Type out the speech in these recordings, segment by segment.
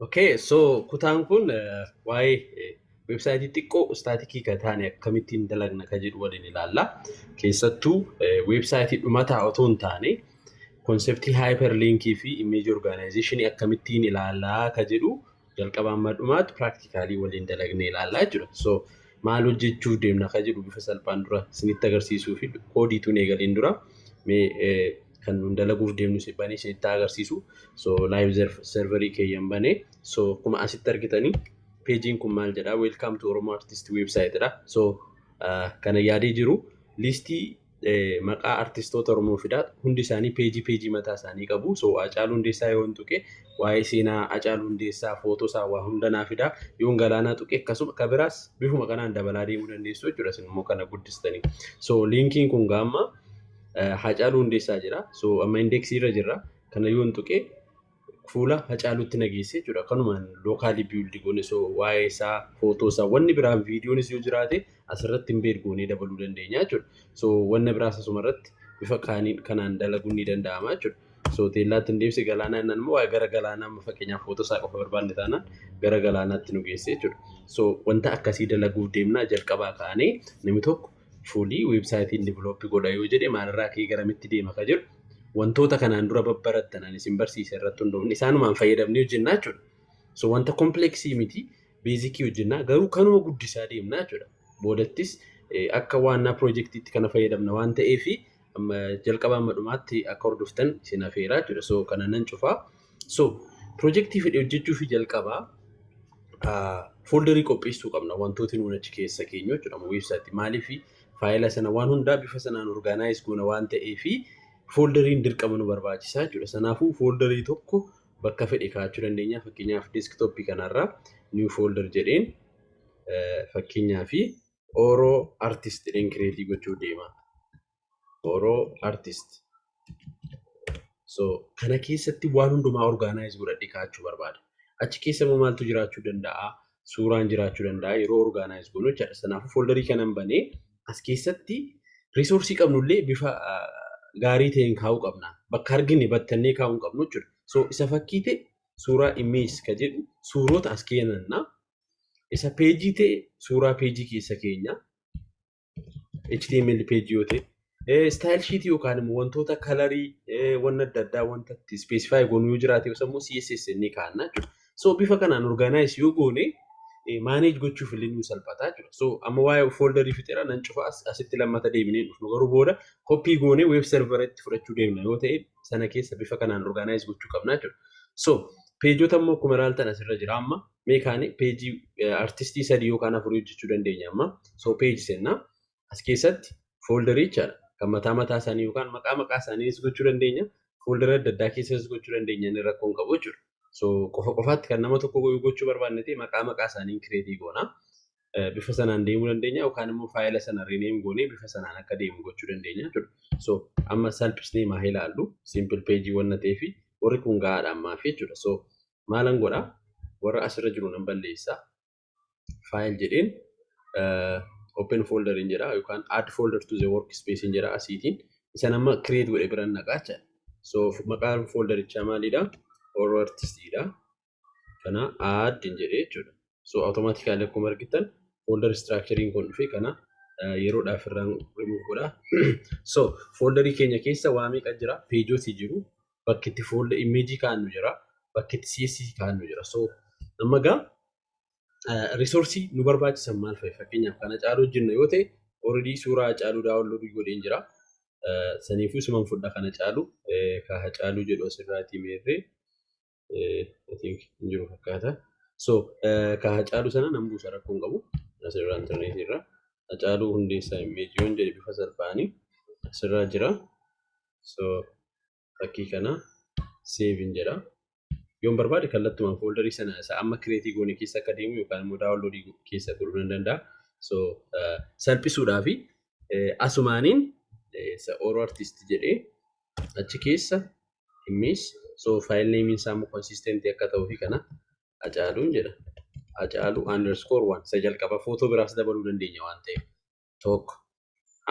Okay, so kutaan kun eh, waa'ee eh, weebsaayitii xiqqoo istaatikii kan taane akkamittiin dalagna kan jedhu waliin ilaalla. Keessattuu eh, weebsaayitii dhumataa otoo hin taane konseptii hyperlinkii fi image organization akkamittiin ilaallaa kan jedhu jalqaba amma dhumaatti piraaktikaalii waliin dalagnee ilaallaa jechuudha. So maal hojjechuuf deemna akka jedhu bifa salphaan dura isinitti agarsiisuu fi koodiituun eegaliin dura mee kan nuun dalaguuf deemnu si banee isinitti agarsiisu. So live serverii keeyyan banee so akkuma asitti argitanii peejiin kun maal jedha welcome to Oromo Artist website dha. So kana yaadee jiru liistii maqaa artistoota Oromoo fidaa hundi isaanii peejii peejii mataa isaanii qabu. So Hacaaluu Hundeessaa yoon tuqe waa'ee seenaa Hacaaluu Hundeessaa footoo isaa waa hunda naa fidaa yoon galaanaa tuqe akkasuma ka biraas bifuma kanaan dabalaa deemuu dandeessu jechuudha isin immoo kana guddistanii. So liinkiin kun gaamma Hacaaluu Hundeessaa jira. So amma indeeksii irra jirra. Kana yoon tuqe fuula Hacaaluutti na geesse jechuudha. Kanumaan lookaalii biildi goone so waa'ee isaa footoo isaa wanni biraan viidiyoonis yoo jiraate asirratti hin beed goonee dabaluu dandeenya jechuudha. So wanna biraas asuma irratti bifa kaaniin kanaan dalaguun ni danda'ama jechuudha. So teellaatti hin deebise galaanaa innaan immoo waa'ee gara galaanaa amma fakkeenyaaf footoo isaa qofa barbaanne taanaan gara galaanaatti nu geesse jechuudha. So wanta akkasii dalaguuf deemnaa jalqabaa kaanee namni tokko Fuulii, website, hin develop godha yoo jedhe maalirraa ka'ee garamitti deema ka jedhu wantoota kanaan dura babbarattan ani isin barsiise irratti hundoofne isaanumaan fayyadamnee hojjennaa jechuudha. So wanta complex miti basic hojjennaa garuu kanuma guddisaa deemnaa jechuudha. Boodattis akka waannaa projektiitti kana fayyadamna waan ta'eefi jalqabaa amma dhumaatti akka hordoftan isin afeeraa jechuudha. So kana nan cufaa. So pirojektii fedhe hojjechuuf jalqaba fooldarii qopheessuu qabna wantooti nuun achi keessa keenyu jechuudha. Weebsaayitii maaliif faayila sana waan hundaa bifa sanaan orgaanaayiz goona waan ta'eef fooldariin dirqama nu barbaachisaa jechuudha. Sanaafuu fooldarii tokko bakka fedhe kaa'achuu dandeenya. Fakkeenyaaf deeskitooppii kanarraa niw foolder jedheen fakkeenyaaf Oro artist jedheen kireetii gochuu deema. Oro artist. So kana keessatti waan hundumaa orgaanaayiz godhadhe kaa'achuu barbaada. Achi keessa immoo maaltu jiraachuu danda'a? Suuraan jiraachuu danda'a yeroo orgaanaayiz goonu jechaadha. Kanaafuu fooldarii kanan banee as keessatti riisoorsii qabnullee bifa ah, gaarii ta'een kaa'uu qabna. Bakka argine battannee kaa'uu hin qabnu jechuudha. So isa fakkii ta'e suuraa image ka jedhu suurota as keenanna Isa peejii ta'e suuraa peejii keessa keenya. HTML peejii yoo ta'e. Istaayil shiitii yookaan immoo wantoota kalarii wanna adda addaa wanta itti ispeesifaayi goonu yoo jiraate yookiin immoo CSS ni kaa'anna jechuudha. So bifa kanaan orgaanaayiz yoo goone maaneej gochuuf illee nu salphata jechuudha. So amma waa'ee fooldarii fixeera nan cufa asitti lammata deebinee dhufnu garuu booda koppii goone weeb servera itti fudhachuu deemna yoo ta'e sana keessa bifa kanaan orgaanaayiz gochuu qabna jechuudha. So peejota immoo akkuma ilaaltan asirra jira amma mee kaani peejii artistii sadii yookaan afurii hojjechuu dandeenya amma soo peeji sennaa as keessatti fooldaricha kan mataa mataa isaanii yookaan maqaa maqaa isaaniinis gochuu dandeenya fooldara adda addaa keessas gochuu dandeenya inni rakkoon qabu jechuudha soo qofa qofaatti kan nama tokko goyuu gochuu barbaanne ta'e maqaa maqaa isaaniin kireetii goona bifa sanaan deemuu dandeenya yookaan immoo faayila sana rineem goonee bifa sanaan akka deemu gochuu dandeenya jechuudha so amma salphisnee maa ilaallu simple peejii wanna ta'eefi warri kun gahaadha ammaaf jechuudha so maalan godha warra asirra jiru nan balleessa file jedheen open folder in jedha yookaan add folder to the workspace in jedha asiitiin isan amma create godhe biran naqaacha so maqaan folderichaa maalidha horror artist dha kana add in jedhe jechuudha So automatically akkuma argitan folder structurein kun dhufe kana yeroodhaaf irraan remove godha. So folderii keenya keessa waa meeqa jira? Pageoti jiru. Bakki itti folder image kaa'annu jira. Bakki itti CSS kaa'annu jira. So amma gaa resource nu barbaachisan maal fa'i? Fakkeenyaaf kana caaluu hojjenna yoo ta'e already suuraa caaluu download godheen jira. Saniifuu suman fudha kana caalu ka caaluu jedhu asirraatii meerree. I think hin jiru fakkaata. So ka Hacaaluu sana nan buusa rakkoo hin qabu. Asirraa intarneetii irraa. Hacaaluu hundeessaa immeeji yoon jedhe bifa salphaani asirraa jira. So fakkii kana save hin jedha. Yoon barbaade kallattumaan fooldarii sana isa amma kireetii goone keessa akka deemu yookaan immoo daawunloodii keessa godhuu nan danda'a. So salphisuudhaa fi asumaaniin isa Oro Artist jedhee achi keessa dhimmis so file name isaa immoo consistent akka ta'uu fi kana acaaluun jedha acaalu underscore one isa jalqaba footoo biraas dabaluu dandeenya waan ta'eef tokko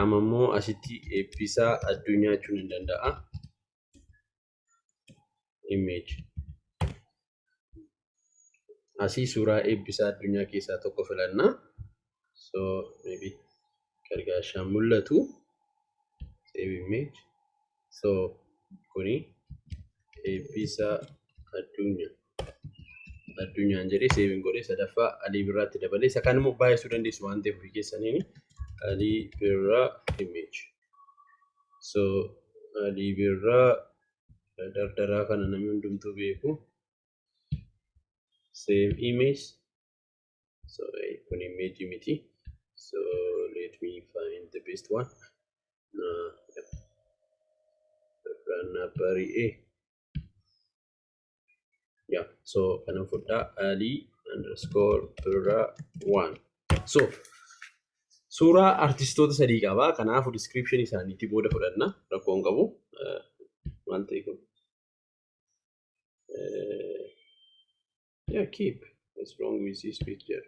amma immoo asitti eebbisaa addunyaa jechuun hin danda'a image Asii suuraa eebbisaa addunyaa keessaa tokko filannaa. So maybe gargaashaan mul'atu. Save image. So kuni eebbisaa addunyaa. Addunyaan jedhee seeviin godhee sadaffaa alii birraatti dabalee isa kan immoo baay'isuu dandeessu waan ta'eef ofii keessaniin alii birraa image. So alii birraa dardaraa kana namni hundumtuu beeku same image so eh, kun image miti so let me find the best one uh, yeah. dardaraan naa bari'ee Yeah, so kanan fudhaa ali underscore birra one. So suuraa artistoota sadii qaba. Kanaafuu description isaaniitti booda fudhanna rakkoo hin qabu. Eh, Maal ta'e kun? Eh, Yeah, keep. What's wrong with this picture?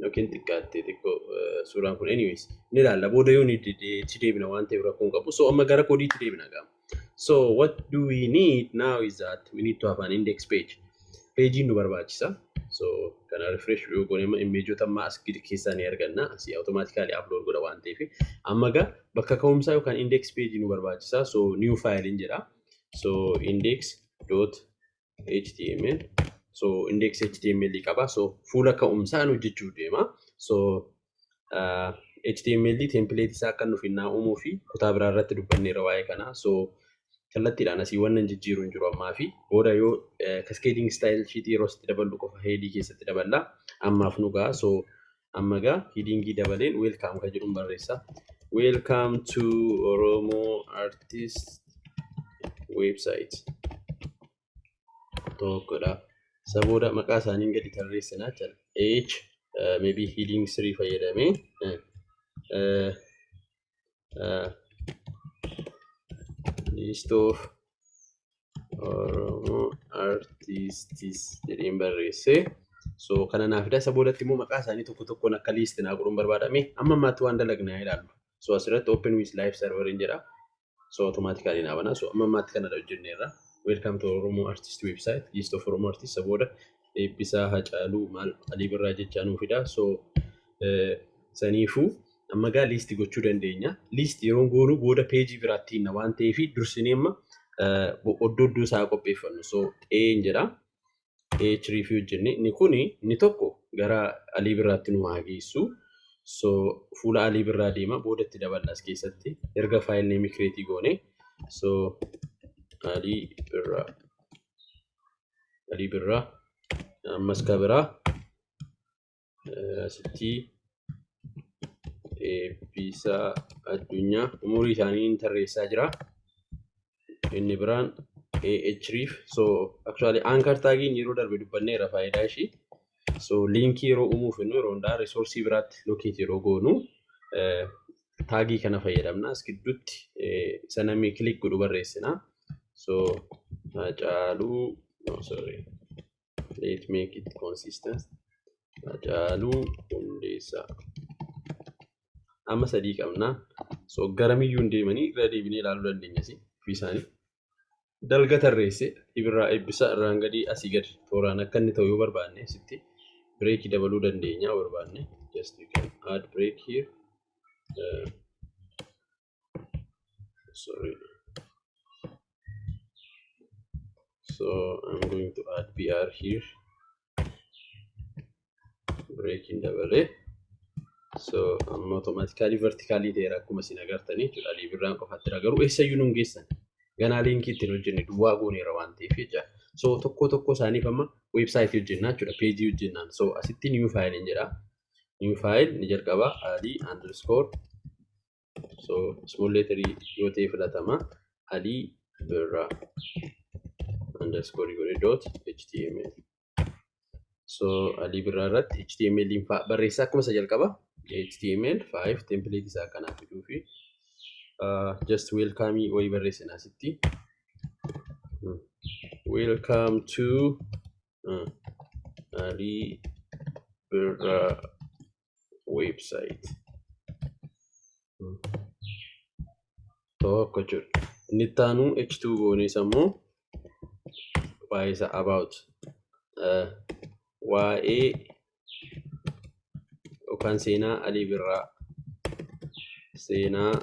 yookiin xiqqaatte xiqqoo suuraan kun anyways ni ilaalla booda yoo ni itti deebina waan ta'eef rakkoo hin qabu so amma gara koodiitti deebina gaama so what do we need now is that we need to have an index page peejiin nu barbaachisa so kana refresh yoo goone amma imeejoota amma as gidi keessaa ni arganna asii automatically upload godha waan ta'eef amma gaa bakka ka'umsaa yookaan index page nu barbaachisa so new file hin jedha so index dot html so index html qaba so fuula ka'umsaa nu hojjechuuf deema so uh, html template isaa akka nuuf innaa uumuu fi kutaa biraa irratti dubbanneerra waa'ee kanaa so kallattiidhaan asii wanna hin jijjiiru hin jiru ammaa fi booda yoo cascading style sheet yeroo sitti daballu qofa headii keessatti daballa ammaaf nu ga'a so amma egaa hidiingii dabaleen weelkaam kan jedhuun barreessa weelkaam to oromoo artist website tokkodha isa booda maqaa isaaniin gadi tarreessina jechuudha h maybe hidiing sirii fayyadamee list of oromo artists jedheen barreesse so kana naaf fida isa boodatti immoo maqaa isaanii tokko tokkoon akka list naa godhuun barbaadame amma ammaatti waan dalagne haa ilaallu so asirratti open with live server hin jedha so automatically naa bana so amma ammaatti kanadha hojjenneerra welcome to oromo artist website list of oromo artist isa booda eebbisaa hacaaluu maal alii birraa jechaa nuu fida so saniifuu Amma egaa list gochuu dandeenya. List yeroon goonu booda page biraatti hinna waan ta'eef dursinee amma oddoo oddoo isaa qopheeffannu. So A hin jedha. A href hojjenne. Inni kun inni tokko gara alii birraatti nu haa geessu. So fuula alii birraa deema booda itti daballa as keessatti erga file name create goone. So alii birraa alii birraa ammas ka biraa asitti eebbisaa addunyaa umurii isaanii hin tarreessaa jira. Inni biraan AH reef so actually anchor taagiin yeroo darbe dubbanneera faayidaa ishii. So liinkii yeroo uumuu fennu yeroo hundaa risoorsii biraatti lokeeti yeroo goonu taagii kana fayyadamna as gidduutti isa namni kilik godhu barreessina. So haacaaluu no sorry let make it consistent Hacaaluu Hundeessaa amma sadii qabna so garamiyyuu hin deemanii irra deebinee ilaaluu dandeenya si ofii isaanii dalga tarreesse ibirraa eebbisa irraan gadii asii gadi tooraan akka inni ta'u yoo barbaanne sitti bireekii dabaluu dandeenya barbaanne just you can add break here uh, sorry so I'm going to add BR here breaking dabalee so amma automatically vertically ta'eera akkuma isin agartanii jechuudha liibirraan qofaatti jira garuu eessayyuu nun geessan ganaa liinkii ittiin hojjenne duwwaa gooneera waan ta'eef jecha so tokko tokko isaaniif amma weebsaayitii hojjennaa jechuudha peejii hojjennaan so asitti new file hin jedha new file ni jalqaba adii underscore so small letter yoo ta'e filatama ali birra underscore godhe dot html so ali birra irratti html in fa- barreessaa akkuma isa jalqaba html 5 template isaa kana fiduu fi uh, just welcome wayii barreessina asitti Hmm. welcome to uh, ali birra weeb saayit tokko jechuudha. Inni itti aanu H2 goonees ammoo waa'ee isaa about waa'ee yookaan seenaa Alii Birraa seenaa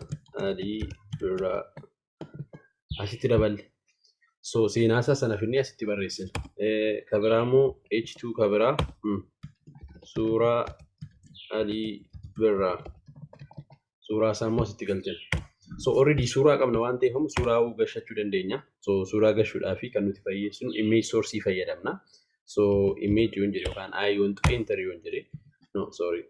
Alii Birraa asitti daballe. So seenaasaa sana finnee asitti barreessina. Kabiraa immoo H2 kabiraa suuraa Alii birraa suuraa isaa immoo asitti galchina. So already suuraa qabna waan ta'eef immoo suuraa gashachuu dandeenya. So suuraa gashuudhaaf kan nuti fayyadamnu image source fayyadamna. so image yoon jedhe yookaan i want to enter yoon jedhe no sorry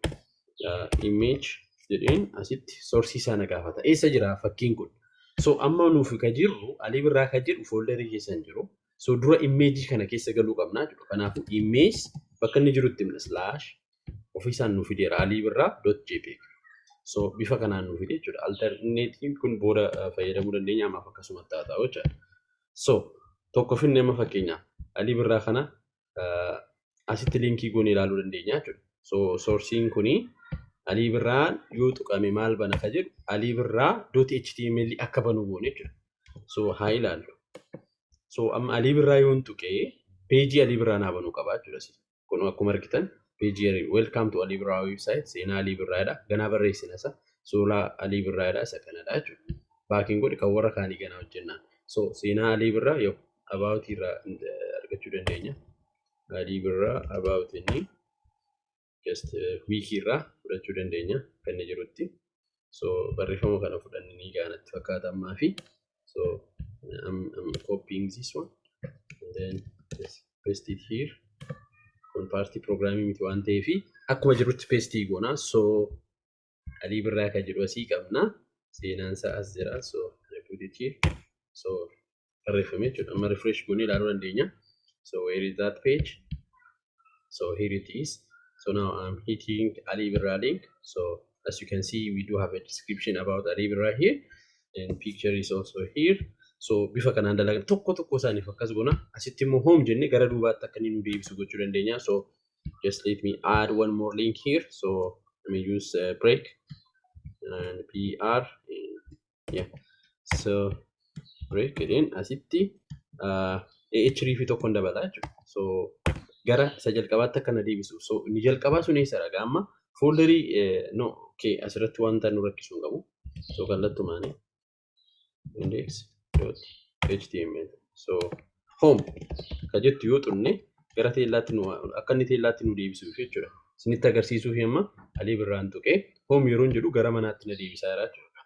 uh, image jedheen asitti sorsii sana gaafata eessa jira fakkiin kun so amma nuuf ka jirru alii birraa ka jedhu fooldarii keessa hin jiru so dura image kana keessa galuu qabna jedhu kanaafuu image bakka inni jirutti himna slash ofiisaan nuuf fideera alii birraa dot jpeg so bifa kanaan nuuf fide jechuudha alternative kun booda uh, fayyadamuu dandeenya ammaaf akkasumatti haa ta'u jechuudha so tokko finne amma fakkeenyaaf alii birraa kana asitti liinkii goone ilaaluu dandeenya jechuudha. So soorsiin kuni alii birraa yoo tuqame maal bana ka jedhu alii birraa dooti html akka banu goone jechuudha. So haa ilaallu. So amma alii birraa yoon tuqee peejii alii birraa naa banuu qaba jechuudha. Kun akkuma argitan page here welcome to Ali Birraa website seenaa Ali Birraa jedha. Ganaa barreessina isa suuraa Ali Birraa jedha isa kanadha jechuudha. Baakiin godhi kan warra kaanii ganaa hojjennaan. So seenaa Ali Birraa yoo about irraa eh, argachuu dandeenya. Ali Birraa about inni just eh, wiki irraa fudhachuu dandeenya kan inni jirutti. so barreeffama kana fudhanne ni gaana itti fakkaata ammaa fi so I'm, I'm copying this one and then just paste it here kun paartii pirogiraamii miti waan ta'eef akkuma jirutti peestii goona so alii birraa kan jedhu asii qabna seenaan isaa as jira so I put it here so barreeffame jechuudha. Amma refresh goonee ilaaluu dandeenya. So where is that page? So here it is. So now I'm hitting Ali Birra link. So as you can see, we do have a description about Ali Birra here. And picture is also here. So bifa kanaan dalagan tokko tokko isaaniif akkas goona. Asitti immoo home jennee gara duubaatti akka inni nu deebisu gochuu dandeenya. So just let me add one more link here. So let me use uh, break and PR and so break jedheen asitti AH riifii tokkoon dabalaa jechuudha. So gara isa jalqabaatti akka na deebisu. So inni jalqabaa sun eessa dhagaa amma fooldarii no okay asirratti wanta nu rakkisu hin qabu. So kallattumaan index dot html so home ka jettu yoo xunne gara teellaatti nu akka inni teellaatti nu deebisuuf jechuudha. Isinitti agarsiisuuf amma alii birraan tuqee home yeroon jedhu gara manaatti na deebisaa jira jechuudha.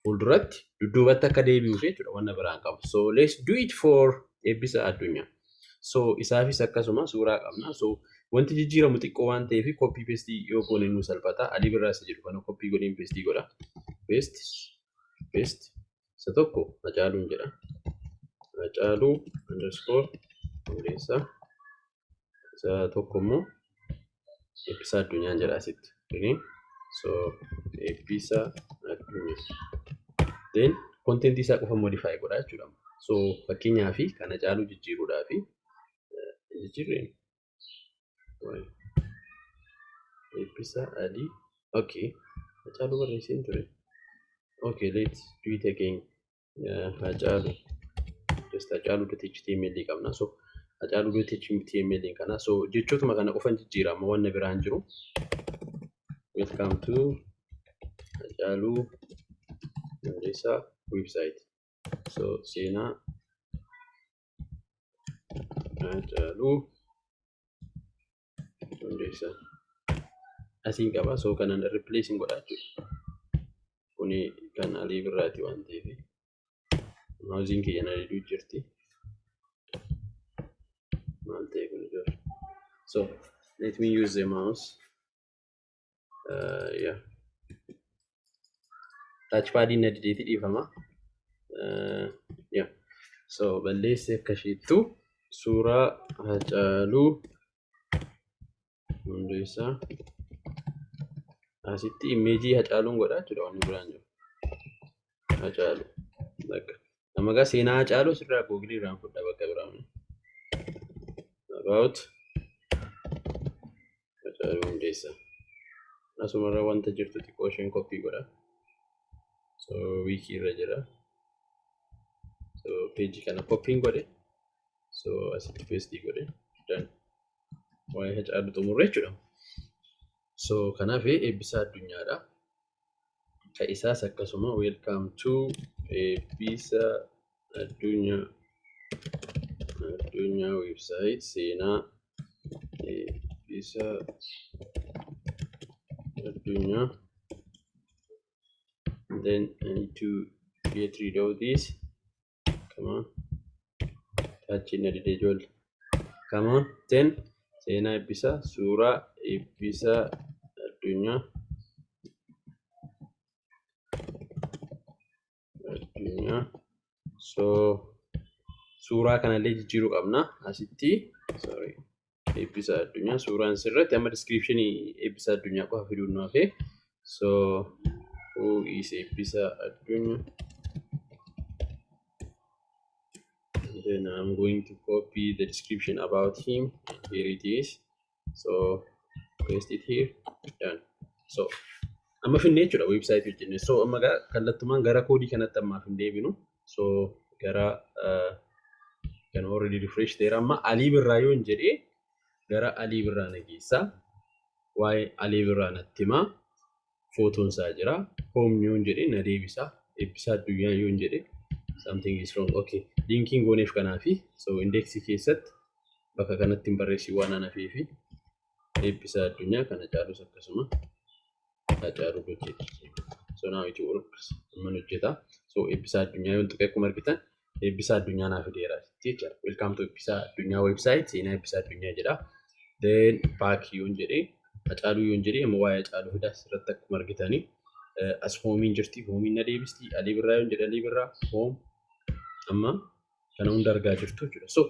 Fuulduratti dudduubatti akka deebi'uuf jechuudha wanna biraan qabu. So let's do it for eebbisa addunyaa. So isaafis akkasuma suuraa qabna. So wanti jijjiiramu xiqqoo waan ta'eef koppii pestii yoo goone nu salphata. Alii birraa isa jedhu kana koppii godheen pestii godha. Pest, pest, isa tokko Hacaaluun jedha. Hacaaluu underscore hundeessaa isa tokko immoo Eebbisaa Addunyaan jedha asitti. Kuni so Eebbisaa Addunyaa. Then kontentii isaa qofa modify godha jechuudha. So fakkeenyaa fi kan Hacaaluu jijjiiruudhaa fi jijjiirreen Waay. Eebbisaa Alii. Okay. Hacaaluu barreesseen ture. Okay, let's do it again. Uh, Hacaaluu. Just Hacaaluu dot HTML qabna. So, Hacaaluu dot HTML kana. So, jechootuma kana qofan jijjiira. Amma wanna biraan jiru. Welcome to Hacaaluu Hundeessaa website. So, seenaa Haacaaluu Hundeessaa. Asiin qaba soo kanan replace hin godhaa jechuudha. Kuni kan alii birraati waan ta'eef. Mauziin kiyya na diduu jirti. Maal ta'e kun ijoollee? So let me use the mouse. yaa taachpaadiin na dideeti dhiifama yaa so balleessi akka ishiittu suuraa hacaaluu hundeessaa asitti imeejii hacaaluun godhaa jechuudha wanni biraan jiru hacaalu bakka Nama gaa seenaa Hacaaluu sirraa googilii irraan fudha bakka biraa. About Hacaaluu Hundeessaa. Asumarra wanta jirtu xiqqoo isheen koppii godha. So wiikii irra jira. So peejii kana koppiin godhe. So asitti peestii godhe. Dan waa'ee Hacaaluu xumurre jechuudha. So kanaaf eebbisaa addunyaadha. ka isaas akkasuma welcome to eebbisa addunyaa addunyaa website seenaa eebbisa addunyaa then I need to get rid of this Come on. Taachiin na didee ijoollee. Come on. Ten. Seenaa eebbisaa. Suuraa eebbisaa addunyaa. Addunyaa. So suuraa kanallee jijjiiruu qabna. Asitti. Sorry. eebbisa addunyaa suuraan sirratti amma diskiripshinii eebbisa addunyaa qofa fiduun nu hafe so who is eebbisa addunyaa then I'm going to copy the description about him and here it is so paste it here done so amma finnee jechuudha website hojjenne so amma kallattumaan gara koodii kanatti ammaaf hin deebinu so gara kan already refresh ta'eera amma alii birraa yoo hin jedhee gara alii birraa na geessa waa'ee alii birraa natti himaa footoon isaa jira hoom yoo hin jedhee na deebisa eebbisaa addunyaa yoo hin jedhee something is wrong okay linkiin gooneef kanaafi so indeeksii keessatti bakka kanatti hin barreessi waan anafeefi eebbisaa addunyaa kana caalus akkasuma Haacaaluu Gocheetti. So now it works. Amma ni hojjeta. So eebbisaa addunyaa yoo xiqqee akkuma argitan eebbisaa addunyaa naa fideera jecha. Welcome to eebbisaa addunyaa website seenaa eebbisaa addunyaa jedha. Then back yoon jedhee Haacaaluu yoon jedhee amma waa'ee Haacaaluu fidaa asirratti akkuma argitanii as hoomiin jirti hoomiin na deebisti alii birraa yoon jedhe alii birraa hoom amma kana hunda argaa jirtu jechuudha. So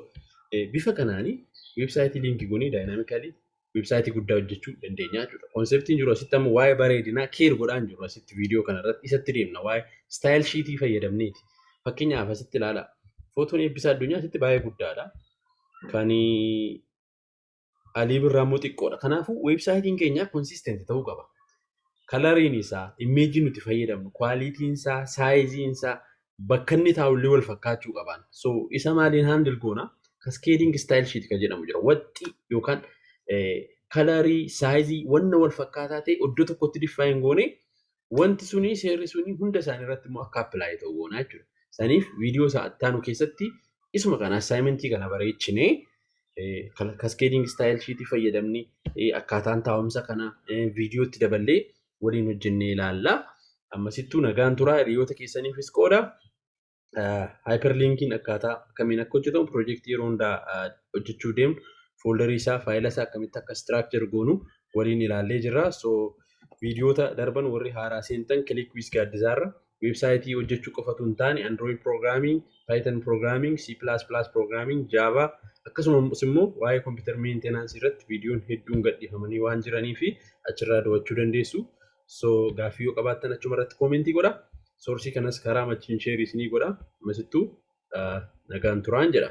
bifa kanaanii weebsaayitii liinkii goonee daayinaamikalii website guddaa hojjechuu dandeenya jechuudha. Konseptiin jiru asitti amma waa'ee bareedinaa keer godhaan jiru asitti viidiyoo kana irratti isatti deemna waa'ee style sheetii fayyadamneeti. Fakkeenyaaf asitti ilaala. Footoon eebbisaa addunyaa asitti baay'ee guddaadha. Kan alii birraa immoo xiqqoodha. Kanaafuu websaayitiin keenya konsistent ta'uu qaba. kalariin isaa, immeejii nuti fayyadamnu, quality isaa, size isaa, bakka inni taa'u illee wal fakkaachuu qabaan. So isa maaliin handle goona? Cascading style sheet kan jedhamu jira. Waxxii yookaan kalarii, saayizii, wanna wal fakkaataa ta'e iddoo tokkotti diffaayin goone wanti suni seerri suni hunda isaanii irratti immoo akka apply ta'u goona jechuudha. Saniif viidiyoo isaa ittaanu keessatti isuma kana assignmentii kana bareechinee kaskeediing istaayil shiitii fayyadamni akkaataan taa'umsa kana viidiyootti daballee waliin hojjennee ilaalla. Ammasittuu nagaan turaa hiriyoota keessaniifis qooda. Haayperliinkiin akkaataa akkamiin akka hojjetamu piroojeektii yeroo hundaa hojjechuu deemnu fooldarii isaa faayila isaa akkamitti akka istiraakchar goonu waliin ilaallee jirra. So viidiyoota darban warri haaraa seentan kiliik wiis gaaddisaarra Weebsaayitii hojjechuu qofa utuu hin taane Android Programming, Python Programming, C++ Programming, Java akkasumas immoo waa'ee Computer Maintenance irratti viidiyoon hedduun gadhiifamanii waan jiranii fi achirraa dawachuu dandeessu. So gaaffii yoo qabaattan achuma irratti koomentii godha. Soorsii kanas karaa machiin sheerii isinii godha. Masittuu nagaan turaan jedha.